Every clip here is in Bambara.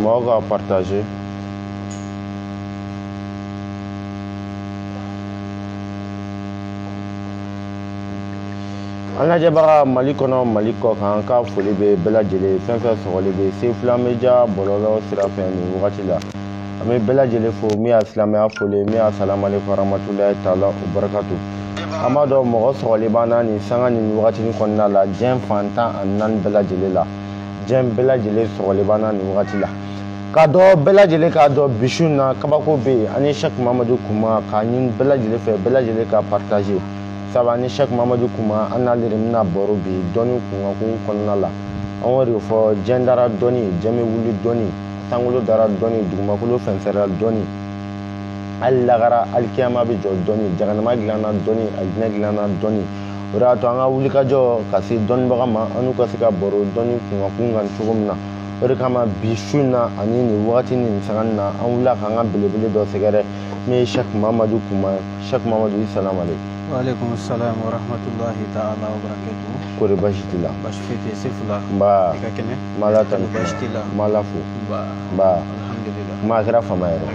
mɔgɔ ka partagé an lajɛbaga mali kɔnɔ mali kɔkan ka foli bɛ bɛɛ lajɛlen fɛn fɛn sɔgɔlen bɛ sefula media bɔlɔlɔ sira fɛ nin wagati la an bɛ bɛɛ lajɛlen fo min y'a silamɛya foli ye min y'a salam aleykum warahmatulahi taala wabarakatu an b'a dɔn mɔgɔ sɔgɔlen b'an na nin sanga nin wagatinin kɔnɔna la diɲɛ fan tan ani naani bɛɛ lajɛlen la diɲɛ bɛɛ lajɛlen sɔgɔlen b'an na nin wagati la k'a dɔn bɛɛ lajɛlen k'a dɔn bi su in na kabako bɛ yen ani sɛki mamadu kuma k'a ɲini bɛɛ lajɛlen fɛ bɛɛ lajɛlen ka partage sabu ani sɛki mamadu kuma an n'ale de bɛna baro bi dɔnni kunkanko kɔnɔna la an y'o de fɔ diɲɛ dara dɔnni diɲɛ bɛ wuli dɔnni sankolo dara dɔnni dugumakolo fɛnsɛra dɔnni hali lagara hali kiyama bɛ jɔ dɔnni jaganama dilanna dɔnni alijinɛ dilanna dɔnni o de y'a to an ka wulikajɔ ka se dɔnnibaga ma an n'u ka se ka baro dɔnni kunkanko kan cogo min na o de kama bi su in na ani nin wagati ni nin sanga nin na an wulila k'an ka belebele dɔ sɛgɛrɛ min ye sɛki mamadu kuma ye sɛki mamadu i salam aleykum waaleykum salam warahmatulahi taala wabarakatu kori basi t'i la basi foyi tɛ sefula nba i ka kɛnɛ n b'ala tanu n b'ala fo nba kuma kɛra fama yɛrɛ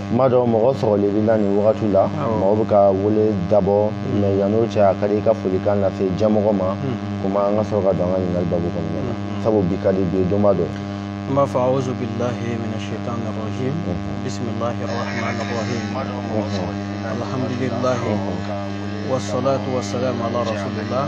kuma n b'a dɔn mɔgɔ sɔgɔlen b'i la nin wagati la mɔgɔ bɛ ka wele dabɔ mɛ yann'o cɛ a ka di i ka folikan lase diɲɛmɔgɔ ma kuma an ka sɔrɔ ka don an ka ɲininkali babu kɔnɔna na sabu bi ka di bi ye donba dɔ n b'a fɔ awuzu bilahi mina shaitan rajim bisimilahi rahman rahim alhamdulilahi wasalatu wasalamu ala rasulillah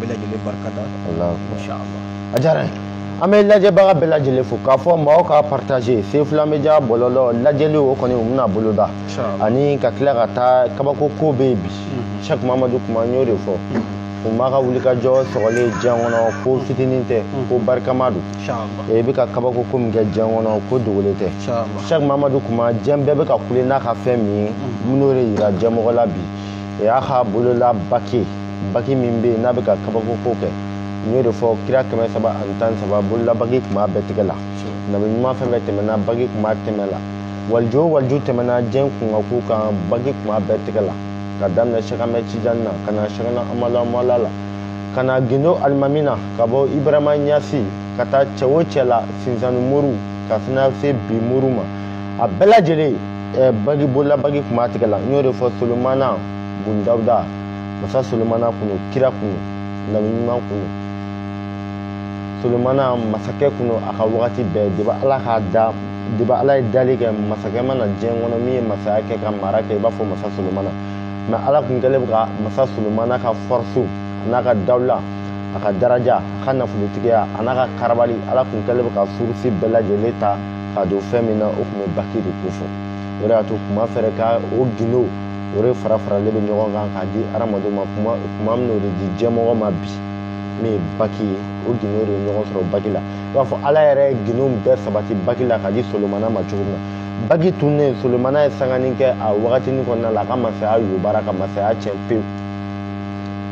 bɛɛ lajɛlen barika da inshallah a diyara n ye an bɛ lajɛbaga bɛɛ lajɛlen fo k'a fɔ mɔgɔw ka partage sefula media bɔlɔlɔ lajɛli o kɔni u bɛna boloda ani ka tila ka taa kabako ko bɛ yen bi sɛk mamadu kuma n y'o de fɔ kuma ka wulikajɔ sɔgɔlen diɲɛ kɔnɔ ko fitinin tɛ ko barikama don i bɛ ka kabako ko min kɛ diɲɛ kɔnɔ ko dogolen tɛ sɛk mamadu kuma diɲɛ bɛɛ bɛ ka kule n'a ka fɛn min ye minnu de yira diɲɛmɔgɔ la bi o y'a ka bolola baki baki min bɛ yen n'a bɛ ka kabakoko kɛ n y'o de fɔ kira kɛmɛ saba ani tan saba bolola baki tun b'a bɛɛ tigɛ la nabi ɲuman fɛn fɛn tɛmɛna baki tun b'a tɛmɛ la waliju o waliju tɛmɛna diɲɛ kunkanko kan baki tun b'a bɛɛ tigɛ la ka daminɛ sɛk amɛd tijani na ka na sɛkna amadu amala la ka na gindo alimami na ka bɔ ibarahima ɲasi ka taa cɛ o cɛ la sinsanni moriw ka fana se bi moriw ma a bɛɛ lajɛlen ɛɛ bagi bolola bagi kun b'a tigɛ la n y'o de fɔ solomana bun dawuda masa solomana kun don kira kun don nabi ɲuman kun don solomana masakɛ kun don a ka wagati bɛɛ depuis ala k'a da depuis ala ye dali kɛ masakɛ ma na diɲɛ kɔnɔ min ye masaya kɛ ka mara kɛ i b'a fɔ masa solomana mais ala kun kɛlen bɛ ka masa solomana ka fɔrisi a n'a ka dawula a ka daraja a ka nafolotigiya a n'a ka karabali ala kun kɛlen bɛ ka fɔrisi bɛɛ lajɛlen ta k'a don fɛn min na o kun bɛ baki de ko fɔ o de y'a to kuma fɛrɛ ka o gindo o de fara faralen bɛ ɲɔgɔn kan k'a di hadamadenw ma kuma kuma min o de di diɲɛmɔgɔ ma bi min ye baki ye o gindo de ye ɲɔgɔn sɔrɔ baki la i b'a fɔ ala yɛrɛ ye gindo bɛɛ sabati baki la k'a di solomana ma cogo min na baki tunnen solomana ye sangani kɛ a wagatinin kɔnɔna la a ka masaya yobara ka masaya tiɲɛ pewu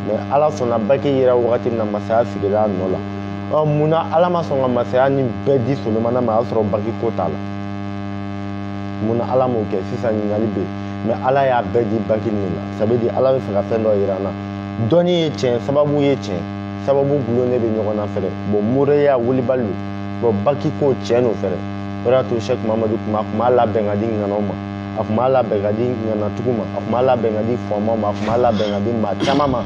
mais ala sɔnna baki yera wagati min na masaya sigila a nɔ la ɔ mun na ala ma sɔn ka masaya ni bɛɛ di solomana ma a y'a sɔrɔ bagi ko t'a la mun na ala m'o kɛ sisan ɲininkali bɛ yen mais ala y'a bɛɛ di bagi nin na ça veut dire ala bɛ fɛ ka fɛn dɔ jira an na dɔnni ye tiɲɛ sababu ye tiɲɛ sababu gulonnen bɛ ɲɔgɔn na fɛnɛ bon moriya wulibali don bon baki ko tiɲɛ don fɛnɛ o de y'a to sɛki mamadu kuma a tun b'a labɛn ka di ŋanaw ma a tun b'a labɛn ka di ŋanatigiw ma a tun b'a labɛn ka di faamaw ma a tun b'a labɛn ka di maa caman ma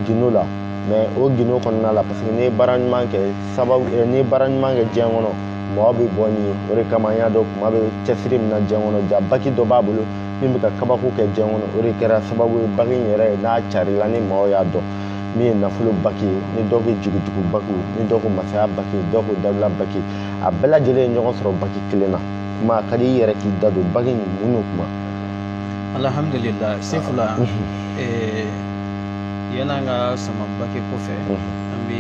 gindo la mais o gindo kɔnɔna la parce que n'i ye baara ɲuman kɛ sababu eh, n'i ye baara ɲuman kɛ diɲɛ kɔnɔ mɔgɔ bɛ bɔ ni o de kama an y'a dɔn kuma bɛ cɛsiri min na diɲɛ kɔnɔ ja baki dɔ b'a bolo min bɛ ka kabako kɛ diɲɛ kɔnɔ o de kɛra sababu ye baki in yɛrɛ ye n'a carila ni mɔgɔw y'a dɔn min ye nafolo baki ye ni dɔ ko jigitugu baki ni dɔ ko masaya baki dɔ ko dawula baki a bɛɛ lajɛlen ye ɲɔgɔn sɔrɔ baki kelen na kuma a ka di i yɛrɛ k'i da don baki in mun n'o kuma alhamdulilayi sefula yanni an ka sama baki ko fɛ an bɛ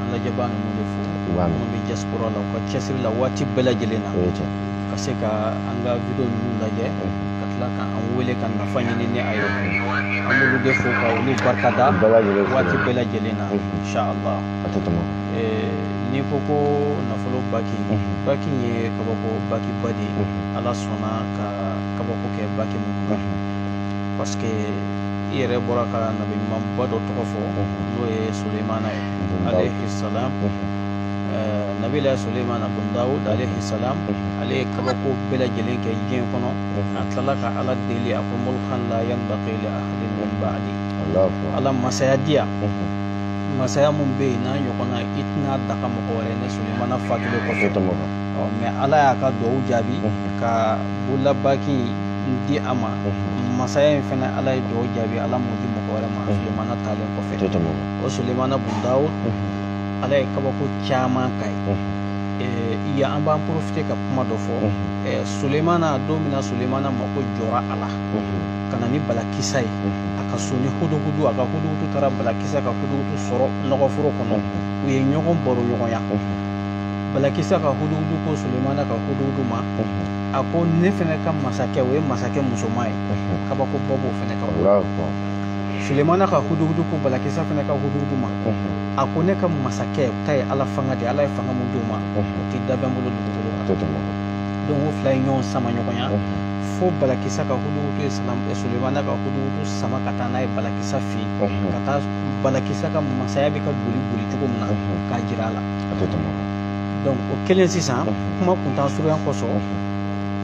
an lajɛbaa ninnu de fo minnu bɛ diaspora la u ka cɛsiri la waati bɛɛ lajɛlen na ka se ka an ka video ninnu lajɛ ka tila ka an wele ka nafa ɲini ni a ye an b'olu de fo ka olu barika da waati bɛɛ lajɛlen na inshallah n'i ko ko nafolo baki baki ye kabako bakiba de ye ala sɔnna ka kabako kɛ baki ninnu parce que i yɛrɛ bɔra ka nabi ɲumanba dɔ tɔgɔ fɔ n'o ye sulemana ye alayhi salam nabilayi sulemana bun dawud alayhi salam ale ye kabako bɛɛ lajɛlen kɛ diɲɛ kɔnɔ a tilala ka ala deli a ko mulkan la yanbaqi li ahadin min ba'di ala masaya di yan masaya mun bɛ yen n'a ɲɔgɔnna i tɛna daga mɔgɔ wɛrɛ ne sulemana fatulen kɔfɛ ɔ mais ala y'a ka dugawu jaabi ka bololabaki in di a ma masaya in fana ala ye dugawu jaabi ala m'o di mɔgɔ wɛrɛ ma sulemana taalen kɔfɛ o sulemana bun dawud ala ye kabako caman k'a ye ya an b'an profiter ka kuma dɔ fɔ sulemana don min na sulemana mako jɔra a la ka na ni balakisa ye a ka so ni huduhudu a ka huduhudu taara balakisa ka huduhudu sɔrɔ nɔgɔforo kɔnɔ u ye ɲɔgɔn baro ɲɔgɔnya balakisa ka huduhudu ko sulemana ka huduhudu ma a ko ne fɛnɛ ka masakɛ o ye masakɛ musoman ye kabako dɔ b'o fɛnɛ kan sulemana ka huduhudu ko balakisa fɛnɛ ka huduhudu ma a ko ne ka masakɛ ta ye ala fanga de ala ye fanga min d'o ma o tɛ danfɛn bolo dugukolo kan donc o fila ye ɲɔgɔn sama ɲɔgɔnya fo balakisa ka huduhudu ye sulemana ka huduhudu sama ka taa n'a ye balakisa fɛ yen ka taa balakisa ka masaya bɛ ka boli boli cogo min na k'a jira a la donc o kelen sisan kuma kuntaa surunya kosɔn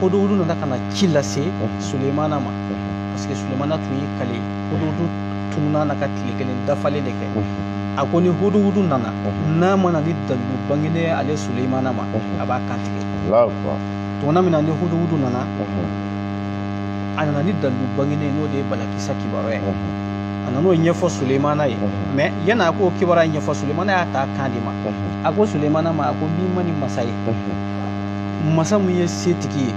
huduhudu nana ka na ci lase sulemana ma parce que sulemana tun y'i kale huduhudu tununa na ka tile kelen dafalen de kɛ a ko ni huduhudu nana n'a ma na ni dalilu bangenen ye ale sulemana ma a b'a kantigɛ tuma min na ni huduhudu nana a nana ni dalilu bangenen ye n'o de ye balakisa kibaruya ye a nan'o ɲɛfɔ sulemana ye mais yanni a k'o kibaruya ɲɛfɔ sulemana y'a ta kan de ma a ko sulemana ma a ko n'i ma ni masa ye masa min ye setigi ye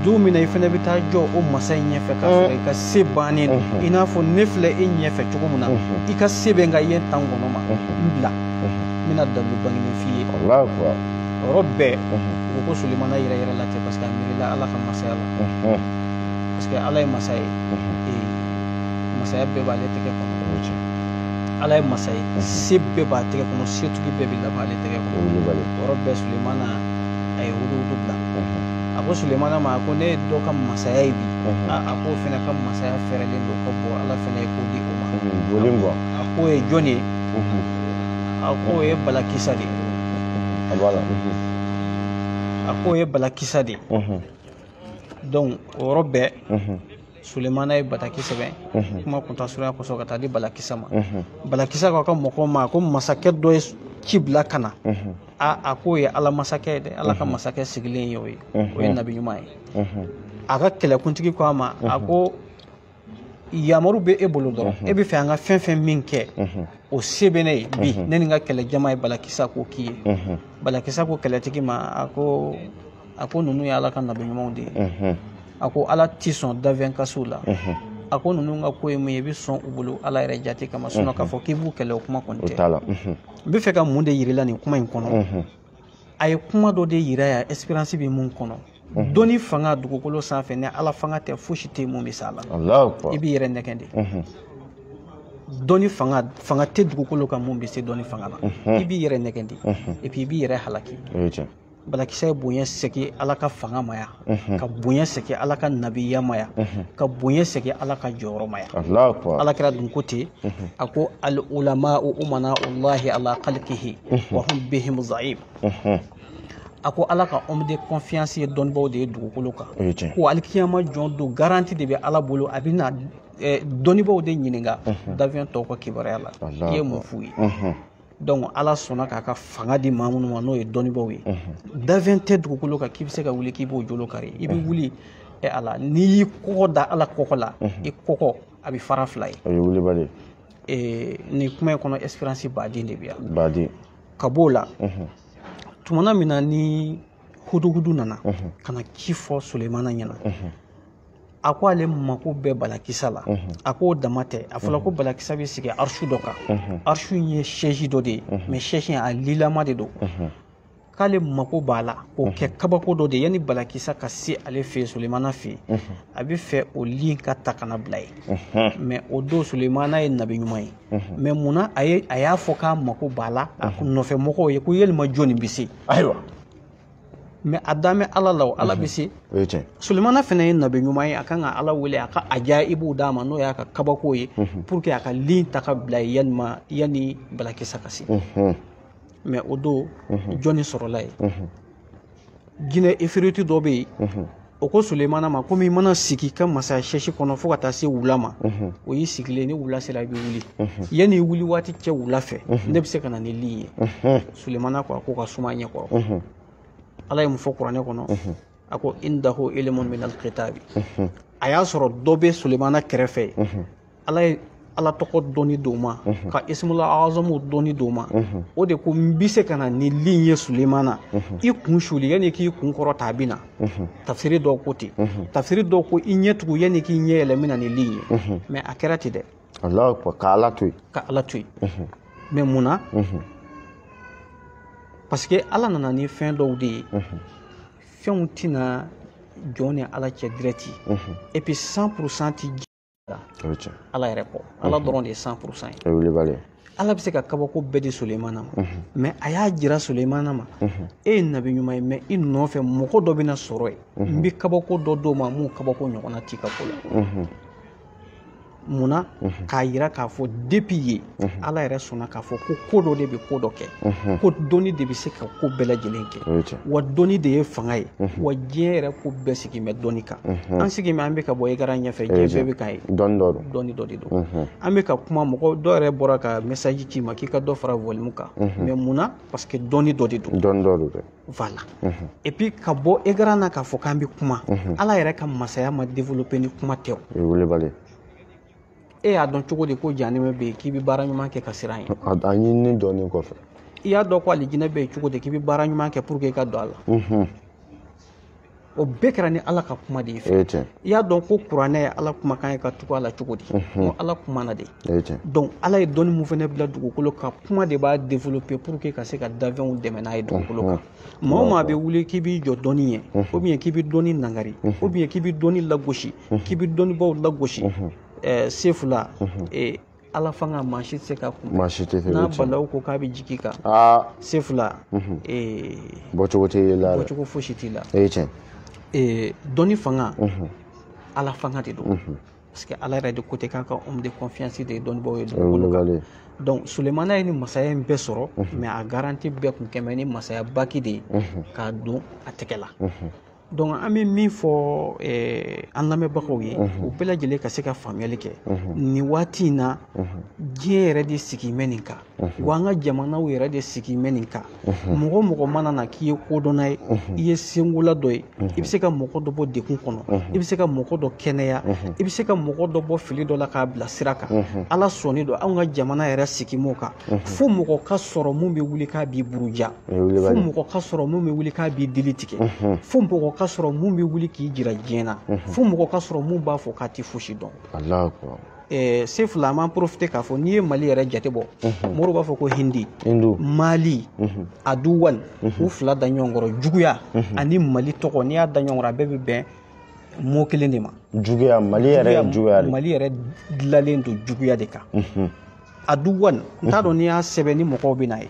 don min na i fana bɛ taa jɔ o masa in ɲɛfɛ k'a sɔrɔ i ka se bannen don i n'a fɔ ne filɛ e ɲɛfɛ cogo min na i ka se bɛ n kan yen tan kɔnɔ ma n bila n bɛna dalilu bangenen f'i ye yɔrɔ bɛɛ u ko sulemana yɛrɛyɛrɛla ten parce que a miirila ala ka masaya la parce que ala ye masa ye masaya bɛɛ b'ale tɛgɛ kɔnɔ ala ye masa ye mhm. se bɛɛ b'a tɛgɛ kɔnɔ setigi bɛɛ bɛ laban ale tɛgɛ kɔnɔ yɔrɔ bɛɛ sulemana a ye huduhudu bila mhm. a ko sulemana ma a ko ne ye dɔ ka masaya ye bi mhm. a k'o fɛnɛ ka masaya fɛɛrɛlen don ka bɔ ala fɛnɛ ye ko di o ma a k'o ye jɔn ye a k'o ye balakisa de ye a k'o ye balakisa de ye donc o yɔrɔ bɛɛ sulemana ye bataki sɛbɛn mhm. kuma kuntaa surunya kosɔn ka taa di balakisa ma mhm. balakisa k'a ka mɔgɔw ma ko masakɛ dɔ ye ci bila ka na mhm. a a k'o ye ala masakɛ ye dɛ ala ka masakɛ sigilen ye o ye o ye nabi ɲuman ye a ka kɛlɛkuntigi ko a ma a ko yamaru bɛ e bolo dɔrɔn e b'a fɛ an ka fɛn fɛn min kɛ o se bɛ ne ye bi ne ni n ka kɛlɛjama ye balakisa ko k'i ye balakisa ko kɛlɛtigi ma a ko a ko ninnu ye ala ka nabi ɲumanw de ye a ko ala tɛ sɔn dafɛn ka s'u la a ko ninnu ka ko ye mun ye i bɛ sɔn u bolo ala yɛrɛ jate kama sinon k'a fɔ k'i b'u kɛlɛ o kuma kɔni tɛ n bɛ fɛ ka mun de yirila nin kuma in kɔnɔ a ye kuma dɔ de yira yan expérience bɛ mun kɔnɔ dɔnni fanga dugukolo sanfɛ ni ala fanga tɛ fosi tɛ mun bɛ s'a la i b'i yɛrɛ nɛgɛn de dɔnni fanga fanga tɛ dugukolo kan mun bɛ se dɔnni fanga na i b'i yɛrɛ nɛgɛn de i b'i yɛrɛ halaki balakisa ye bonya segin ala ka fanga ma yan mhm. ka bonya segin ala ka nabiya ma yan mhm. ka bonya segin ala ka jɔyɔrɔ ma yan ala kira dun ko ten mhm. a ko al ulama umana allahi ala khalqihi wa hum bihim za'im a ko ala ka homme de confiance ye dɔnnibaw de ye dugukolo kan ko alikiyama jɔ don garanti de bɛ ala bolo a bɛna eh, dɔnnibaw de ɲininka dafɛn tɔw ka kibaruya la i ye mun f'u ye donc ala sɔnna k'a ka fanga di maa minnu ma n'o ye dɔnnibaaw ye dafɛn tɛ dugukolo kan k'i bɛ se ka wuli k'i b'o jolo kari i bɛ wuli ɛ ala n'i y'i kɔkɔ da ala kɔkɔ la i kɔkɔ a bɛ fara fila ye o ye wulibali ye nin kuma in kɔnɔ expérience baden de bɛ yan baden ka b'o la tumana min na ni huduhudu nana ka na ci fɔ sulemana ɲɛna a ko ale mako bɛ balakisa la a k'o dama tɛ a fɔra ko balakisa bɛ sigi arisu dɔ kan arisu in ye sɛsi dɔ de ye mɛ sɛsi a li lama de don k'ale mako b'a la k'o kɛ kabako dɔ de yanni balakisa ka se ale fɛ yen sulemana fɛ yen a bɛ fɛ o li in ka ta ka na bila yen mɛ o don sulemana ye nabi ɲuman ye mɛ munna a y'a fɔ k'a mako b'a la a nɔfɛ mɔgɔw ye ko yalima jɔni bɛ se ayiwa mɛ a dalen bɛ ala la o ala bɛ se sulemana fana ye nabi ɲuman ye a kan ka ala wele a ka ajayibu d'a ma n'o y'a ka kabako ye pour que a ka li in ta ka bila yen yanima yanni balakisa ka se mɛ o don jɔnni sɔrɔla yen jinɛ ifiriti dɔ bɛ yen o ko sulemana ma komi i mana sigi i ka masaya sɛsi kɔnɔ fo ka taa se wula ma o y'i sigilen ni wula sera i bɛ wuli yanni i wuli waati cɛ wula fɛ ne bɛ se ka na ni li ye sulemana ko a k'o ka suma a ɲɛ kɔrɔ ala ye mun fɔ kuranɛ kɔnɔ a ko indahu ilimun min alkitabi a y'a sɔrɔ dɔ bɛ sulemana kɛrɛfɛ ala ye ala tɔgɔ dɔnni d'o ma mhm. ka ismula azamu dɔnni d'o ma mhm. o de ko n bɛ se ka na ni li in ye sulemana mhm. i kun suli yanni k'i kun kɔrɔta a bɛ na tafsiri dɔw ko ten tafsiri dɔw ko i ɲɛ tugu yanni k'i ɲɛ yɛlɛ n bɛ na ni li in ye mɛ a kɛra ten dɛ ka ala to yen ka ala to yen mɛ mun na parce que ala nana ni fɛn dɔw de ye fɛnw tɛ na jɔn ni ala cɛ direct et puis cent pour cent ti ala yɛrɛ kɔ ala dɔrɔn de ye cent pour cent ye ala bɛ se ka kabako bɛɛ di sulemana ma mais a y'a jira sulemana ma e ye nabi ɲuman ye mais i nɔfɛ mɔgɔ dɔ bɛna sɔrɔ yen n bɛ kabako dɔ d'o ma mun kabako ɲɔgɔnna t'i ka ko la munna k'a yira k'a fɔ depuis ye ala yɛrɛ sɔnna k'a fɔ ko ko dɔ de bɛ ko dɔ kɛ ko dɔnni de bɛ se ka ko bɛɛ lajɛlen kɛ wa dɔnni de ye fanga ye wa diɲɛ yɛrɛ ko bɛɛ sigilen bɛ dɔnni kan an sigilen bɛ an bɛ ka bɔ écran ɲɛfɛ diɲɛ bɛɛ bɛ k'an ye dɔnni dɔ de don an bɛ ka kuma mɔgɔ dɔ yɛrɛ bɔra ka message ci i ma k'i ka dɔ fara volume kan mais mun na parce que dɔnni dɔ de don voilà et puis ka bɔ écran na k'a fɔ k'an bɛ kuma ala yɛrɛ ka masaya ma développer ni kuma tɛ o e y'a dɔn cogo di ko janɛmɛ bɛ yen k'i bɛ baara ɲuman kɛ ka siran ye a ɲinini dɔnni kɔfɛ i y'a dɔn ko alijinɛ bɛ yen cogo di k'i bɛ baara ɲuman kɛ pour que i ka don a la o bɛɛ kɛra ni ala ka kuma de ye fɛ i y'a dɔn ko kuranɛ ye ala kumakan ye ka tugu a la cogo di ko ala kumana de donc ala ye dɔnni mun fana bila dugukolo kan kuma de b'a développer pour que ka se ka danfɛnw dɛmɛ n'a ye dugukolo kan maa o maa bɛ wuli k'i b'i jɔ dɔnni ye ou bien k'i bɛ dɔnni nangari ou bien k'i bɛ dɔnni lagosi k'i bɛ dɔnnibaw lagosi sefula ala fanga maa si tɛ se k'a kun n'a balawu ko k'a bɛ jigin i kan sefula bɔcogo t'i la bɔcogo fosi t'i la dɔnni fanga ala fanga de don parce que ala yɛrɛ de ko ten k'a ka homme de confiance de ye dɔnnibaaw ye dugukolo kan donc sulemana ye nin masaya in bɛɛ sɔrɔ mais a garanti bɛɛ kun kɛ mɛ nin masaya bague de ye k'a don a tɛgɛ la donc an bɛ min fɔ an lamɛnbagaw ye u bɛɛ lajɛlen ka se ka faamuyali kɛ nin waati in na diɲɛ yɛrɛ de sigi mɛ nin kan wa an ka jamanaw yɛrɛ de sigi mɛ nin kan mɔgɔ o mɔgɔ mana na k'i ye kodɔnna ye i ye senkola dɔ ye i bɛ se ka mɔgɔ dɔ bɔ degun kɔnɔ i bɛ se ka mɔgɔ dɔ kɛnɛya i bɛ se ka mɔgɔ dɔ bɔ fili dɔ la k'a bila sira kan ala sɔnnen don anw ka jamana yɛrɛ sigi m'o kan fo mɔgɔ ka sɔrɔ mun bɛ wuli k'a b'i buruja fo mɔgɔ ka sɔrɔ mun bɛ wuli k'a b'i dili tigɛ fo mɔgɔ ka sɔrɔ mun bɛ wuli k'i jira diɲɛ na fo mɔgɔ ka sɔrɔ mun b'a fɔ k'a tɛ fosi dɔn Eh, sefula an b'an profiter k'a fɔ n'i ye mali yɛrɛ jate bɔ mhm. mori b'a fɔ ko hindi mali mhm. aduwan mhm. u fila da ɲɔgɔn kɔrɔ juguya ani mali tɔgɔ n'i y'a da ɲɔgɔn kɔrɔ a bɛɛ bɛ bɛn mot kelen de ma juguya mali yɛrɛ dilalen don juguya de kan aduwan n t'a dɔn n'i y'a sɛbɛn ni mɔgɔw bɛ n'a ye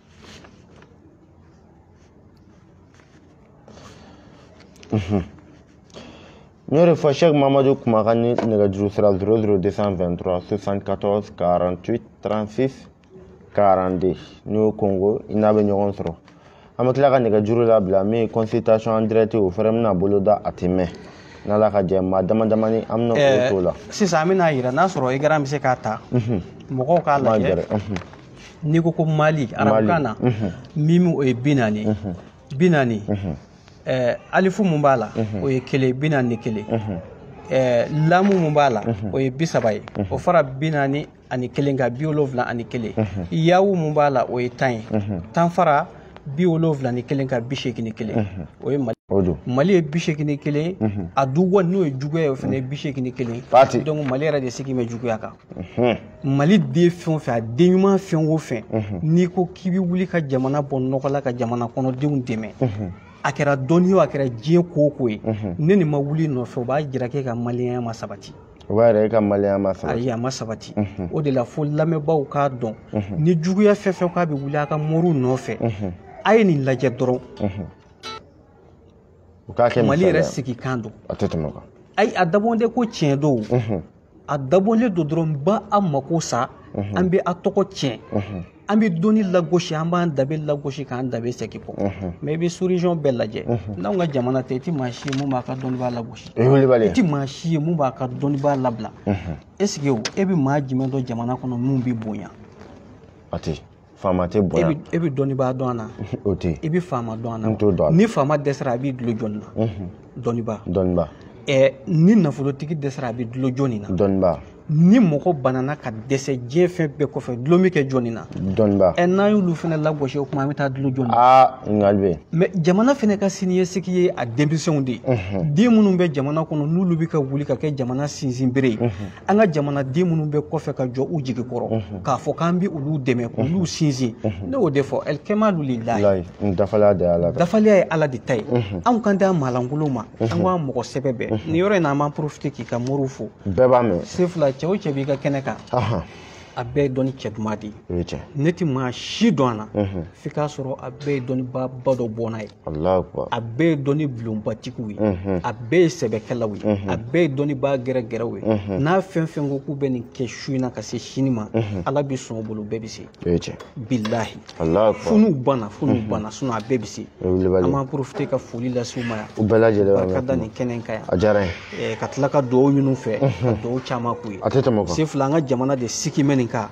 n y'o de fɔ sɛki mamadu kuma ka ni nɛgɛjuru sira 00 223 74 48 36 42 n'i y'o kongo i n'a bɛ ɲɔgɔn sɔrɔ an bɛ tila ka nɛgɛjuru labila min ye consultation en direct o fɛnɛ bɛna boloda a tɛ mɛn n'ala ka jɛ maa dama damani an bɛna o t'o la sisan an bɛna yira n'a sɔrɔ i garan bɛ se k'a ta mɔgɔw k'a lajɛ n'i ko ko mali arabukan na mimu o ye bi naani bi naani alifu mun b'a la o ye kelen bi naani ni kelen lamu mun b'a la o ye bi saba ye o fara bi naani ani kelen kan bi wolonwula ani kelen yawu mun b'a la o ye tan ye tan fara bi wolonwula ni kelen kan bi seegin ni kelen o ye mali mali ye bi seegin ni kelen aduwa n'o ye juguya ye o fana ye bi seegin ni kelen donc mali yɛrɛ de sigi bɛ juguya kan mali den fɛn o fɛn a den ɲuman fɛn o fɛn n'i ko k'i bɛ wuli ka jamana bɔ nɔgɔ la ka jamana kɔnɔdenw dɛmɛ a kɛra dɔnni o a kɛra diɲɛ ko o ko ye nɛni ma wuli nɔfɛ o b'a jira k'e ka maliyɛnya ma sabati o b'a yira e ka maliyɛnya ma sabati ayi a ma sabati o de la fo lamɛnbaaw k'a dɔn ni juguya fɛn fɛn k'a bɛ wuli a ka moriw nɔfɛ a ye nin lajɛ dɔrɔn u k'a kɛ mali yɛrɛ sigi kan don a tɛ tɛmɛ o kan ayi a dabɔlen de ko tiɲɛ don a dabɔlen don dɔrɔn an bɛ a mako sa mhm. an bɛ a tɔgɔ tiɲɛ mhm. an bɛ dɔnni lagosi an b'an danbe lagosi k'an danbe segin kɔ mhm. mais i bɛ sous-région bɛɛ lajɛ n'anw ka jamana tɛ i tɛ maa si ye mun b'a ka dɔnnibaa lagosi i tɛ maa si ye mun b'a ka dɔnnibaa labila est ce que e bɛ maa jumɛn dɔn jamana kɔnɔ mun bɛ bonya a tɛ faama tɛ bonya e bɛ e bɛ dɔnnibaa dɔn a la o tɛ i bɛ faama dɔn a la n t'o dɔn ni faama dɛsɛra a b'i dulo jɔni na dɔnnibaa dɔnnibaa ɛɛ ni nafolotigi dɛsɛra a bɛ dulo jɔni na dɔnnibaa ni mɔgɔ banana ka dɛsɛ diɲɛ fɛn bɛɛ kɔfɛ dulon bɛ kɛ jɔni na dɔnnibaa ɛ n'an y'olu fana lagosi o kuma an bɛ taa dulo jɔni aa ɲininkali bɛ yen mais jamana fana ka siniɲɛsigi ye a denmisɛnw de ye den minnu bɛ jamana kɔnɔ n'olu bɛ ka wuli ka kɛ jamana sinsinbere ye an ka jamanaden minnu bɛ kɔfɛ ka jɔ u jigi kɔrɔ mhm. k'a fɔ k'an bɛ olu dɛmɛ mhm. k'olu sinsin mhm. ne y'o de fɔ ɛlikɛmalu lilahi dafaliya de y'ala dafaliya ye ala de ta ye anw kan tɛ maalankolon ma an ka mɔgɔ sɛbɛ bɛɛ nin yɔrɔ in na an b'an profiter k'i ka moriw fo bɛɛ b'a mɛn se fila cɛ o cɛ b'i ka kɛnɛ kan a bɛɛ ye dɔnni cɛ duman de ye ne tɛ maa si dɔn a la f'i k'a sɔrɔ a bɛɛ ye dɔnnibaba dɔ bɔnna ye a bɛɛ ye dɔnni bulonbatigiw ye a bɛɛ ye sɛbɛkɛlaw ye a bɛɛ ye dɔnnibaa gɛrɛgɛrɛw ye n'a fɛn fɛn ko k'u bɛ nin kɛ su in na ka se sini ma ala bɛ sɔn o bolo bɛɛ bɛ se bilahi funu banna funu banna sinon a bɛɛ bɛ se an b'an profiter ka foli lase u ma yan u bɛɛ lajɛlen barika da nin kɛnɛ in kan yan a diyara n ye. Eh, ka tila ka dugawu ɲini u fɛ ka dugawu caman k'u ye a tɛ tɛmɛ o kan sefula an ka jamana de sigimɛ nin kan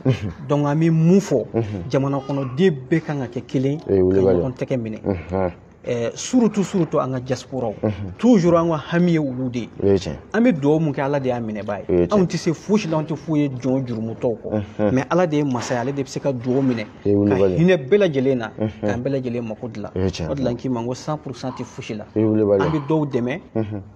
donc an bɛ mun fɔ jamana kɔnɔden bɛɛ kan ka kɛ kelen ka ɲɔgɔn tɛgɛ minɛ eh, surtout surtout an ka diasporaw toujours an ka hami ye olu de ye an bɛ dugawu mun kɛ ala de y'a minɛbaa ye anw tɛ se fosi la anw tɛ foyi ye jɔn jurumutɔw kɔ mais ala de ye masa ye ale de bɛ se ka dugawu minɛ ka hinɛ bɛɛ lajɛlen na k'an bɛɛ lajɛlen mako dilan o de la n k'i ma n ko 100 pourcent tɛ fosi la an bɛ dɔw dɛmɛ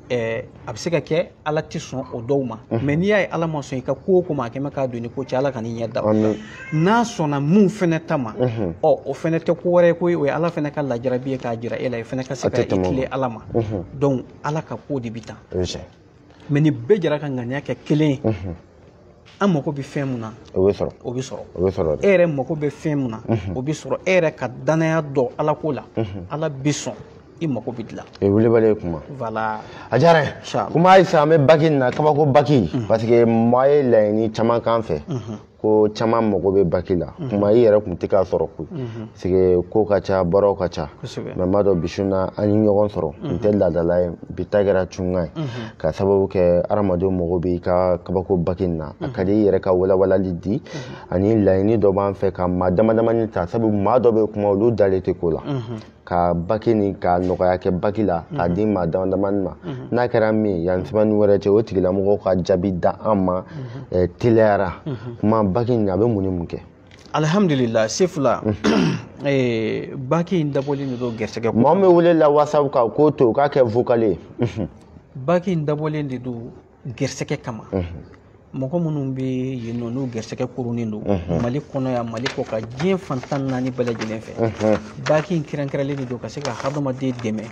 ɛɛ a bɛ se ka kɛ ala tɛ sɔn o dɔw ma mais n'i y'a ye ala ma sɔn i ka ko o ko ma a kɛmɛ k'a don ni ko cɛ ala kan'i ɲɛ da o la n'a sɔnna mun fɛnɛ ta ma ɔ o fɛnɛ tɛ ko wɛrɛ ye koyi o ye ala fɛnɛ ka lajarabi ye k'a jira e la i fɛnɛ ka se ka i tilen ala ma donc ala ka ko de bi tan mais ni bɛɛ jɛra ka ŋaniya kɛ kelen ye an mako bɛ fɛn min na o bɛ sɔrɔ o bɛ sɔrɔ o bɛ sɔrɔ e yɛrɛ mako bɛ fɛn min na o bɛ sɔrɔ e yɛrɛ ka danaya dɔn ala ko la ala bɛ sɔn i mako bɛ dilan o ye wulibali ye kuma voilà a diyara n ye kuma halisa an bɛ baki nin na kabako baki parce que maa ye laɲini caman k'an fɛ ko caman mako bɛ baki la kuma i yɛrɛ tun tɛ k'a sɔrɔ koyi parce que ko ka ca baaraw ka ca mais n b'a dɔn bi su in na an ye ɲɔgɔn sɔrɔ n tɛ laadala ye bi ta kɛra cunkan ye ka sababu kɛ adamadenw mago bɛ i ka kabako baki nin na a ka di i yɛrɛ ka walawalali di ani laɲini dɔ b'an fɛ ka maa damadamani ta sabu maa dɔ bɛ kuma olu dalen tɛ ko la ka baki ni ka nɔgɔya kɛ baki la k'a di maa damadamani ma n'a kɛra min yan semaine wɛrɛ cɛ o tigilamɔgɔw ka jaabi d'an ma teliya la kuma baki nin a bɛ mun ni mun kɛ alihamdulila sefula eh, baki in dabɔlen de don gɛrɛsɛgɛ ko mɔgɔ min welela whatsapp kan k'o to k'a kɛ vocal ye baki in dabɔlen de don gɛrɛsɛgɛ kama mɔgɔ minnu bɛ yen nɔ n'u gɛrɛsɛgɛ koronnen don mali kɔnɔ yan mali kɔkan diɲɛ fan tan naani bɛɛ lajɛlen fɛ baki in kɛrɛnkɛrɛnlen de don ka se ka hadamaden dɛmɛ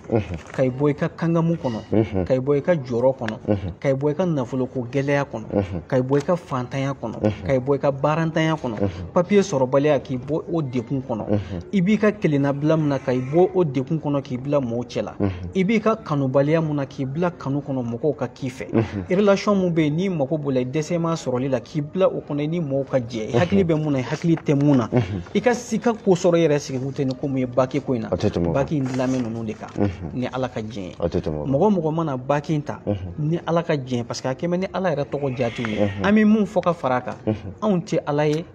ka i bɔ i ka kangamu kɔnɔ ka i bɔ i ka jɔrɔ kɔnɔ ka i bɔ i ka nafoloko gɛlɛya kɔnɔ ka i bɔ i ka fantanya kɔnɔ ka i bɔ i ka baarantanya kɔnɔ papiye sɔrɔbaliya k'i bɔ o degun kɔnɔ i b'i ka kelennabila min na ka i bɔ o degun kɔnɔ k'i bila mɔgɔw cɛ la i b'i ka kanubaliya mun na k'i bila kanu kɔnɔ mɔgɔw ka k'i fɛ relation mun bɛ yen n'i mago b'o la i dɛsɛm'a sɔrɔli la k'i bila o kɔnɔ i ni mɔgɔw ka jɛ i hakili bɛ mun na i hakili tɛ mun na i ka se ka ko sɔrɔ i yɛrɛ sigi kun tɛ ni ko mun ye baki ko in na baki in dilanmɛ ninnu o de kan ni ala ka jɛn ye mɔgɔ o mɔgɔ mana baki in ta ni ala ka jɛn parce que a kɛmɛ ni ala yɛrɛ tɔgɔ jaatiw ye an bɛ mun fɔ ka fara a kan anw tɛ ala ye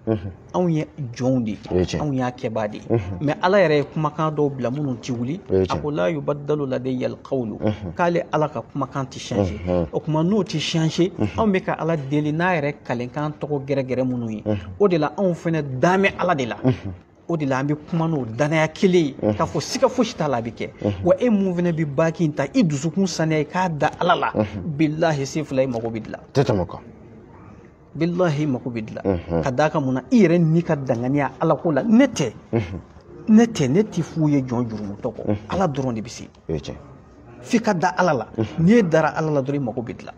anw ye jɔnw de ye anw y'a kɛbaa de ye mais ala yɛrɛ ye kumakan dɔw bila minnu tɛ wuli a ko la yubaddalu ladayyal qawlu k'ale ala ka kumakan tɛ changer o kuma n'o tɛ changer anw bɛ ka ala deli n'a yɛrɛ kalenkan tɔgɔ gɛrɛgɛrɛ minnu ye o de la anw fɛnɛ damɛ ala de la o de la an bɛ kuma n'o danaya kelen ye k'a fɔ siga fosi t'a la a bɛ kɛ wa e mun fana bɛ baki in ta i dusukun saniya i ka da ala la bilahi se fila i mago bɛ dilan tɛ tɛmɛ kan bilahi mago bɛ dilan ka d'a kan mun na i yɛrɛ n'i ka danganiya ala ko la ne tɛ ne tɛ ne tɛ fu ye jɔn jurumutɔ kɔ ala dɔrɔn de bɛ se f'i ka da ala la n'i dara ala la dɔrɔn i mago bɛ dilan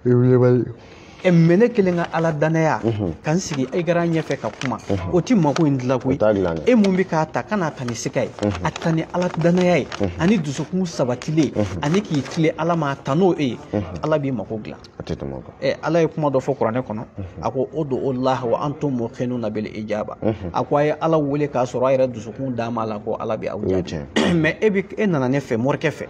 ɛ mɛ ne kelen ka ala danaya ka n sigi écran ɲɛfɛ ka kuma o ti mako in dilan koyi e mun bɛ k'a ta kan'a ta ni siga ye a ta ni ala danaya ye ani dusukun sabatilen ani k'i tilen ala ma a ta n'o e ye ala b'i mako dilan a tɛ tɛmɛ o kan ɛ ala ye kuma dɔ fɔ kuranɛ kɔnɔ a ko udu laha wa antum mukinuna bil ijaba a ko a ye ala wele k'a sɔrɔ a yɛrɛ dusukun dam'a la ko ala bɛ aw jaabi mɛ e bɛ e nana ne fɛ morikɛ fɛ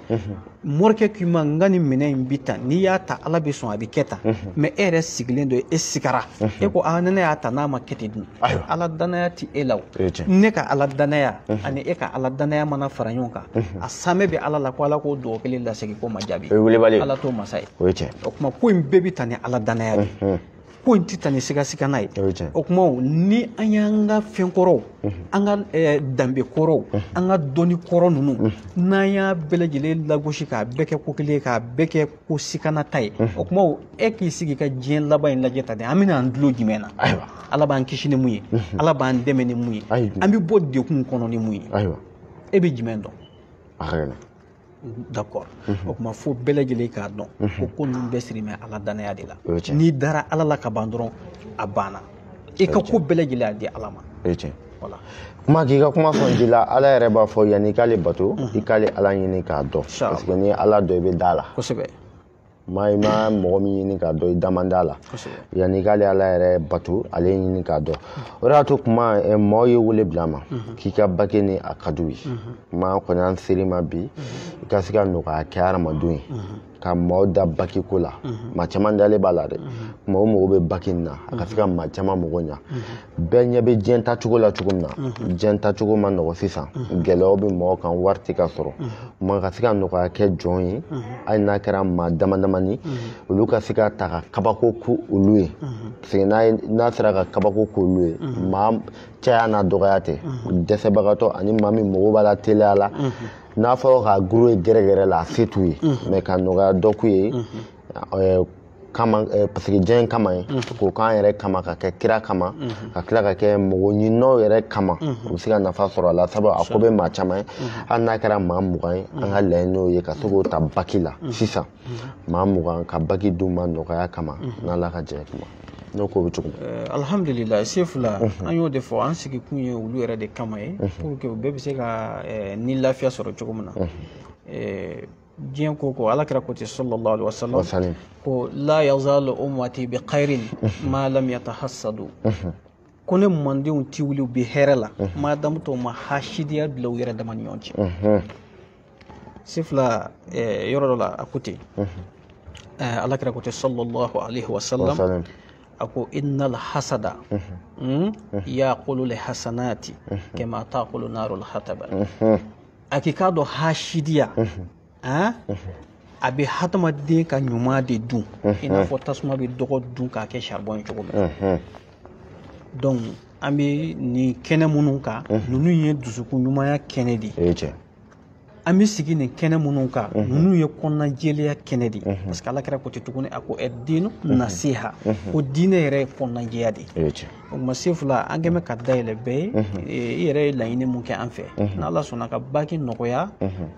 morikɛ k'i ma n ka nin minɛn in bi tan n'i y'a ta ala bɛ sɔn a bɛ kɛ tan mɛ e yɛrɛ sigilen don e sigara e ko a ni ne y'a ta n'a ma kɛ ten dun ayiwa ala danaya tɛ e la o ne ka ala danaya ani e ka ala danaya mana fara ɲɔgɔn kan a saamɛ bɛ ala la ko ala k'o dugawu kelen lasegin k'o ma jaabi o ye welebali ala t'o masa ye o ye tiɲɛ o kuma ko in bɛɛ bɛ ta ni ala danaya de ye ko in tɛ ta ni sigasigana ye o kuma ni an y'an ka fɛn kɔrɔw an ka danbe kɔrɔw an ka dɔnni kɔrɔ ninnu n'an y'a bɛɛ lajɛlen lagosi k'a bɛɛ kɛ ko kelen k'a bɛɛ kɛ ko siganata ye o kuma e k'i sigi ka diɲɛ laban in lajɛ tan de an bɛna an dulon jumɛn na ayiwa ala b'an kisi ni mun ye ala b'an dɛmɛ ni mun ye an bɛ bɔ degun kɔnɔ ni mun ye ayiwa e bɛ jumɛn dɔn a ka gɛlɛn d'accord o kuma fo bɛɛ lajɛlen k'a dɔn ko ko ninnu bɛɛ siri bɛ ala danaya de la n'i dara ala la ka ban dɔrɔn a banna i ka ko bɛɛ lajɛlen a di ala ma o ye tiɲɛ kuma k'i ka kuma sɔn ji la ala yɛrɛ b'a fɔ yanni i k'ale bato i k'ale ala ɲini k'a dɔn parce que n'i y'ala dɔn i bɛ d'a la kosɛbɛ ma i ma mɔgɔ min ɲini k'a dɔn i da man d'a la yanni i k'ale ala yɛrɛ bato ale ɲini k'a dɔn o de y'a to kuma eh, mɔgɔw ye wele bil'an ma k'i ka baki nin a ka d'u ye kuma kɔni an ser'i ma bi i ka se ka nɔgɔya kɛ hadamadenw ye ka maaw da baki ko la mhm. maa caman dalen b'a la dɛ kuma mhm. o mago bɛ baki in na a ka se ka mhm. maa caman mago ɲa bɛɛ ɲɛ bɛ diɲɛ tacogo la cogo min na diɲɛ tacogo ma nɔgɔ sisan gɛlɛyaw bɛ mɔgɔw kan wari tɛ ka sɔrɔ kuma ka se ka nɔgɔya kɛ jɔn ye hali n'a kɛra maa damadamani olu ka se k'a ta ka kabako k'olu ye parce que n'a sera ka kabako k'olu ye maa caya n'a dɔgɔya tɛ dɛsɛbagatɔ ani maa min mago b'a la teliya la n'a fɔra ka goro ye gɛrɛ gɛrɛ la a se t'u ye mɛ ka nɔgɔya dɔ k'u ye ɛɛ, kama ɛɛ, paseke diɲɛ in kama ye k'o k'an yɛrɛ kama k'a kɛ kira kama ka tila k'a kɛ mɔgɔ ɲininaw yɛrɛ kama u bɛ se ka nafa sɔrɔ a la sabu a ko bɛ maa caman ye hali n'a kɛra maa mugan ye an ka laɲini y'o ye ka se k'o ta baki la sisan maa mugan ka baki d'u ma nɔgɔya kama n'ala ka jɛ kuma n'o ko bɛ cogo min eh, alhamdulila sefula an y'o de fɔ an sigikun ye olu yɛrɛ de kama ye pour que u bɛɛ bɛ se ka eh, ni lafiya sɔrɔ cogo min na eh, diɲɛ ko ko ala kira ko ten sallallahu alaihi wasallam ko la yazalu ummati bi khairin ma lam yatahassadu ko ne mandenw ti wuli u bɛ hɛrɛ la madamu tɔw ma hasidiya bila u yɛrɛ dama ni ɲɔgɔn cɛ sefula eh, yɔrɔ dɔ la a ko ten eh, ala kira ko ten sallallahu alaihi wasallam Wasalim. a ko innal hasada mm, yakulu li hasanati kama takulu narul hataba a k'i k'a dɔn hasidiya ah, a bɛ hadamaden ka ɲuman de dun i n'a fɔ tasuma bɛ dɔgɔ dun k'a kɛ charbon ye cogo min na Mhm. donc an bɛ nin kɛnɛ minnu kan ninnu ye dusukun ɲumanya kɛnɛ de ye o ye tiɲɛ an bɛ sigi nin kɛnɛ minnu kan ninnu ye kɔnɔnajɛlenya kɛnɛ de ye parce que ala kira ko ten tuguni a ko dinu nasiha ko diinɛ yɛrɛ ye kɔnɔnajɛya de ye o ma sefula an kɛmɛ ka dayɛlɛ bɛɛ ye i yɛrɛ ye laɲini mun kɛ an fɛ ni ala sɔnna ka baki nɔgɔya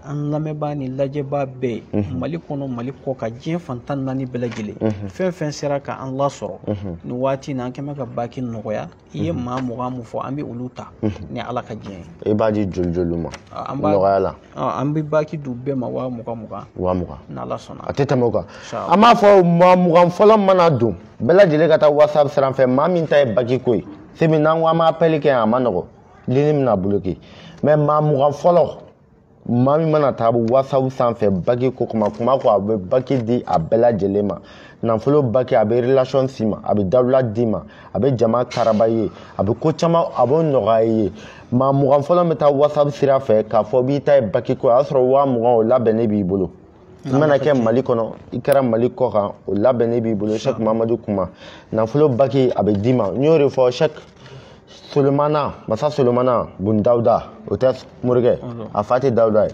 an lamɛnbaa ni lajɛbaa bɛɛ ye mali kɔnɔ mali kɔ kan diɲɛ fan tan ni naani bɛɛ lajɛlen fɛn fɛn sera ka an lasɔrɔ nin waati in na an kɛmɛ ka baki nɔgɔya i ye maa mugan mun fɔ an bɛ olu ta ni ala ka diɲɛ ye i b'a di joli joli ma nɔgɔya la an bɛ baki d'u bɛɛ ma waa mugan mugan waa mugan ni ala sɔnna a tɛ tɛmɛ o kan an b'a fɔ maa mugan fɔlɔ mana don bɛɛ lajɛlen ka taa whatsapp sira fɛ maa min ta ye baki ko ye sabu n'an ko an b'apɛli kɛ a man nɔgɔ lini bɛna bloke mais maa mugan fɔlɔ maa min mana taa whatsapp sanfɛ baki ko kuma kuma ko a bɛ baki di a bɛɛ lajɛlen ma nafolo baki a bɛ relation s'i ma a bɛ dawula d'i ma a bɛ jama karaba i ye a bɛ ko caman a b'o nɔgɔya i ye maa mugan fɔlɔ bɛ taa whatsapp sira fɛ k'a fɔ b'i ta ye baki ko a y'a sɔrɔ waa mugan o labɛnnen b'i bolo i mana kɛ mali kɔnɔ i kɛra mali kɔ kan o labɛnnen b'i bolo shek mamadu kuma nafolo baki a bɛ d'i ma n y'o de fɔ shek solomana masa solomana bun dawuda o tɛ morikɛ a fa tɛ dawuda ye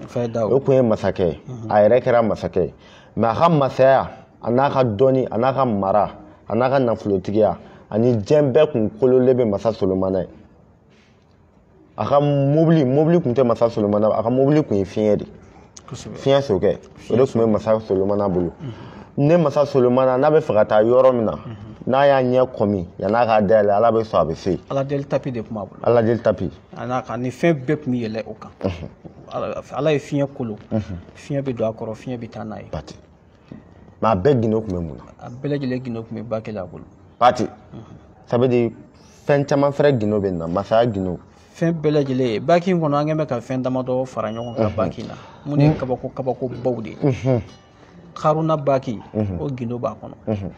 o tun ye masakɛ ye a yɛrɛ kɛra masakɛ ye mais a ka masaya a n'a ka dɔnni a n'a ka mara a n'a ka nafolotigiya ani diɲɛ bɛɛ kun kololen bɛ masa solomana ye a ka mobili mobili tun tɛ masa solomana a ka mobili tun ye fiɲɛ de fiɲɛ sokɛ o de tun bɛ masa solomana bolo ni masa solomana n'a b'a fɛ ka taa yɔrɔ min na n'a y'a ɲɛ kɔmi yan'a k'a dayɛlɛ ala bɛ sɔn a bɛ se ala deli tapi de tun b'a bolo ala deli tapi a n'a ka ni fɛn bɛɛ tun bɛ yɛlɛ o kan ala ye fiɲɛ kolo fiɲɛ bɛ don a kɔrɔ fiɲɛ bɛ taa n'a ye mais a bɛɛ gindo tun bɛ mun na a bɛɛ lajɛlen gindo tun bɛ baki la a bolo pati ça veut dire fɛn caman fɛrɛ gindo bɛ na masaya gindo fɛn bɛɛ lajɛlen baki in kɔnɔ an kɛn bɛ ka fɛn damadɔ fara ɲɔgɔn kan baki in na min ye kabako kabakobaw de ye karuna baki o gindo b'a kɔnɔ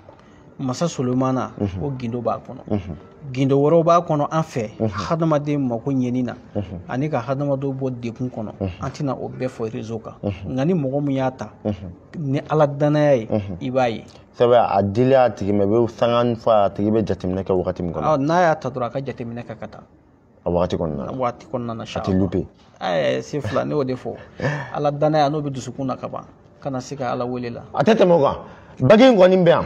masa solomana mhm. o gindo b'a kɔnɔ mhm. gindo wɛrɛw b'a kɔnɔ an fɛ mhm. hadamaden mako ɲɛni na ani ka hadamadenw bɔ degun kɔnɔ an tɛna o bɛɛ fɔ réseau kan nka ni mɔgɔ min y'a ta ni ala dannaya ye i b'a ye c'est vrai a dili a tigi ma i bɛ sanga fɔ a tigi bɛ jateminɛ kɛ wagati min kɔnɔ n'a y'a ta dɔrɔn a ka jateminɛ kɛ ka taa a waati kɔnɔna na waati kɔnɔna na a tɛ louper ɛɛ se fila ne y'o de fɔ ala dannaya n'o b'i dusukun na ka ban kana siga ala wele la a tɛ tɛmɛ o kan baki in kɔni bɛ yan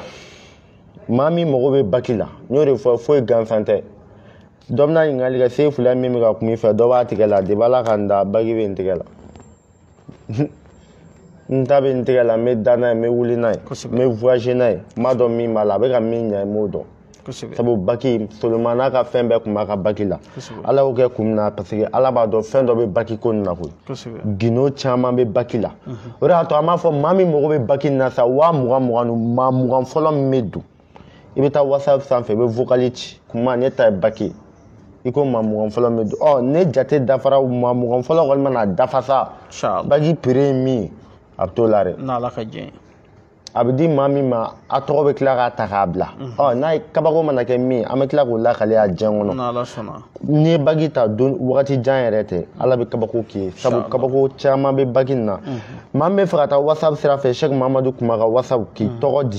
maa min mago bɛ baki la n y'o de fɔ foyi gansan tɛ dɔ bɛna ɲininkali kɛ se fila min bɛ ka kuma i fɛ dɔ b'a tigɛ la depuis ala ka n da baki bɛ n tigɛ la n ta bɛ n tigɛ la n bɛ da n'a ye n bɛ wuli n'a ye n bɛ voyager n'a ye n b'a dɔn min b'a la a bɛ ka min ɲɛ n b'o dɔn sabu baki soloma n'a ka fɛn bɛɛ tun b'a ka baki la ala y'o kɛ kun min na parce que ala b'a dɔn fɛn dɔ bɛ baki ko nin na koyi gindo caman bɛ baki la o de y'a to an b'a fɔ maa min mago bɛ baki nin na sa waa mugan mugan ni maa mugan fɔlɔ min bɛ don i bɛ taa whatsapp sanfɛ i bɛ vocali ci kuma ne ta ye baki i ko maa mugan fɔlɔ bɛ don ɔ ne jate dafara maa mugan fɔlɔ kɔni mana dafa sa baki prix ye min ye a bɛ t'o la dɛ n'ala ka jɛ a bɛ di maa min ma a tɔgɔ bɛ tila k'a ta k'a bila mhm. ɔ n'a ye kabako mana kɛ min an bɛ tila k'o lakale a diɲɛ kɔnɔ n'ala sɔnna n'i ye baki ta don wagati jan yɛrɛ tɛ mhm. ala bɛ kabako k'i ye sabu kabako caman bɛ baki nin na mhm. maa min b'a fɛ ka taa whatsapp sira fɛ sɛki mamadu kuma ka whatsapp k'i tɔgɔ di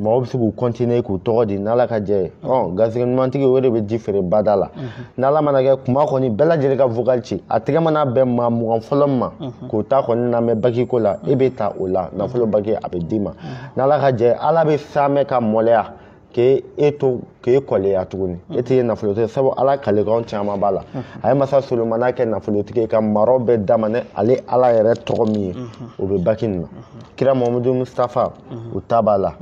mɔgɔw bɛ se ka continuer k'u tɔgɔ di n'ala ka jɛ ye ɔ garisɛgɛ ɲumantigi o de bɛ ji feere bada la n'ala mana kɛ kuma kɔni bɛɛ lajɛlen ka vocal ci a tɛgɛ mana bɛn maa mugan fɔlɔ min ma k'o ta kɔni lamɛn baki ko la e bɛ ta o la nafolo baki a bɛ d'i ma n'ala ka jɛ ala bɛ saamɛ ka maloya k'e e to k'e kɔleya tuguni e tɛ ye nafolotigi sabu ala kalekanw caman b'a la a ye masa solomana kɛ nafolotigi ye ka maraw bɛɛ d'a ma n'ale ala yɛrɛ tɔgɔ min ye o bɛ baki nin na kira mahamadu mustafa o ta b'a la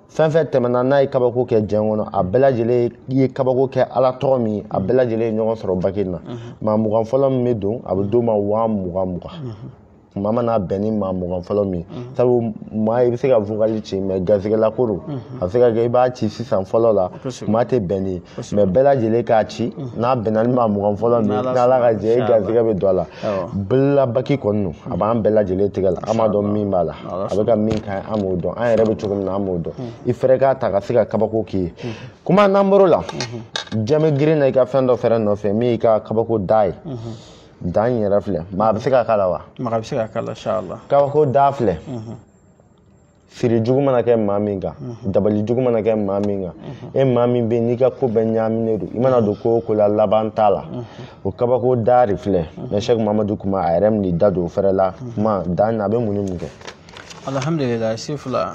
fɛn fɛn tɛmɛna n'a ye kabako kɛ diɲɛ kɔnɔ a bɛɛ lajɛlen ye kabako kɛ ala tɔgɔ min ye a bɛɛ lajɛlen ye ɲɔgɔn sɔrɔ baki na maa mugan fɔlɔ min bɛ don a bɛ d'o ma waa mugan mugan kuma mana bɛn ni maa mugan fɔlɔ min ye sabu maa i bɛ se ka vokali ci mais garisɛgɛla ko don a bɛ se ka kɛ i b'a ci sisan fɔlɔ la kuma tɛ bɛn n'i ye mais bɛɛ lajɛlen k'a ci n'a bɛnna ni maa mugan fɔlɔ min n'ala ka jɛ i garisɛgɛ bɛ don a la baki kɔni don a b'an bɛɛ lajɛlen tigɛ la an b'a dɔn min b'a la a bɛ ka min kɛ an b'o dɔn an yɛrɛ bɛ cogo min na an b'o dɔn i fɛrɛ k'a ta ka se ka kabako k'i ye kuma n'an bɔr'o la jama girinna i ka fɛn dɔ fɛrɛ nɔfɛ min y'i ka kabako da ye da in yɛrɛ filɛ maa a bɛ se ka k'a la wa maa a bɛ se ka k'a la kabako da filɛ siri jugu mana kɛ maa min kan mhm. dabali jugu mana kɛ maa min kan mhm. e maa min bɛ n'i ka ko bɛɛ ɲaaminen don i mana don ko o ko la laban t'a la mhm. o kabako da de filɛ mɛ sɛki mamadu kuma a yɛrɛ min da don o fɛrɛ la kuma da in a bɛ mun ni mun kɛ alhamdulilayi sifula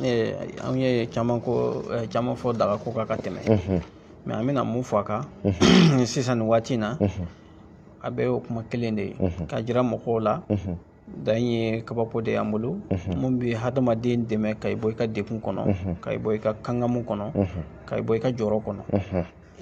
eh, an ye caman ko eh, caman fɔ daga ko kan ka tɛmɛ mɛ an bɛna mun fɔ a kan sisan nin waati in na a bɛ o kuma kelen de ye ka jira mɔgɔw la da in ye kabako de y'an bolo mun bɛ hadamaden dɛmɛ ka i bɔ i ka degun kɔnɔ ka i bɔ i ka kangamu kɔnɔ ka i bɔ i ka jɔrɔ kɔnɔ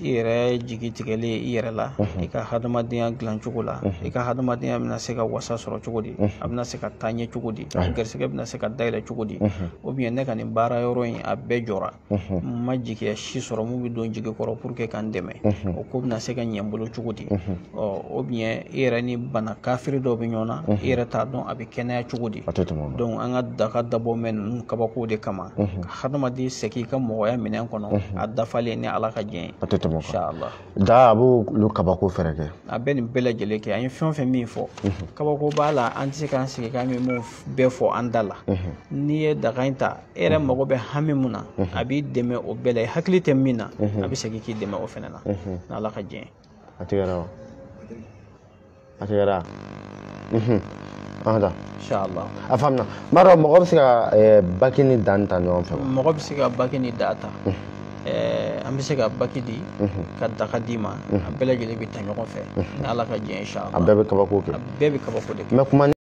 i yɛrɛ jigi tigɛlen i yɛrɛ la i ka hadamadenya dilan cogo la i ka hadamadenya bɛna se ka wasa sɔrɔ cogo di a bɛna se ka taa ɲɛ cogo di a garisɛgɛ bɛna se ka dayɛlɛ cogo di ou bien ne ka nin baara yɔrɔ in a bɛɛ jɔra n ma jigiya si sɔrɔ mun bɛ don jigi kɔrɔ pour que ka n dɛmɛ o ko bɛna se ka ɲɛ n bolo cogo di ou bien i yɛrɛ ni bana kafiri dɔw bɛ ɲɔgɔn na i yɛrɛ t'a dɔn a bɛ kɛnɛya cogo di donc an ka daga dabɔ mɛn ninnu kabako de kama ka hadamaden segin i ka mɔgɔya minɛn kɔnɔ a dafalen ni ala ka jɛn ye da a b'olu kabako fɛnɛ kɛ a bɛ nin bɛɛ lajɛlen kɛ an ye fɛn o fɛn min fɔ kabako b'a la an tɛ se k'an sigi k'an bɛ mun bɛɛ fɔ an da la n'i ye daga in ta e yɛrɛ mago bɛ hami mun na a b'i dɛmɛ o bɛɛ la i hakili tɛ min na a bɛ segin k'i dɛmɛ o fana na n'ala ka diɲɛ a tigɛra wa a tigɛra da. Inshallah. A faamuna. N b'a dɔn mɔgɔ bɛ se ka eh, baki ni da ta ɲɔgɔn fɛ wa? Mɔgɔ bɛ se ka baki ni da ta. Mhm. Eh, an bɛ se ka baki di mhm. ka daga d'i ma mhm. a bɛɛ lajɛlen bɛ ta ɲɔgɔn fɛ ni ala ka diɲɛ inshallah a bɛɛ bɛ kabako kɛ a bɛɛ bɛ kabako de kɛ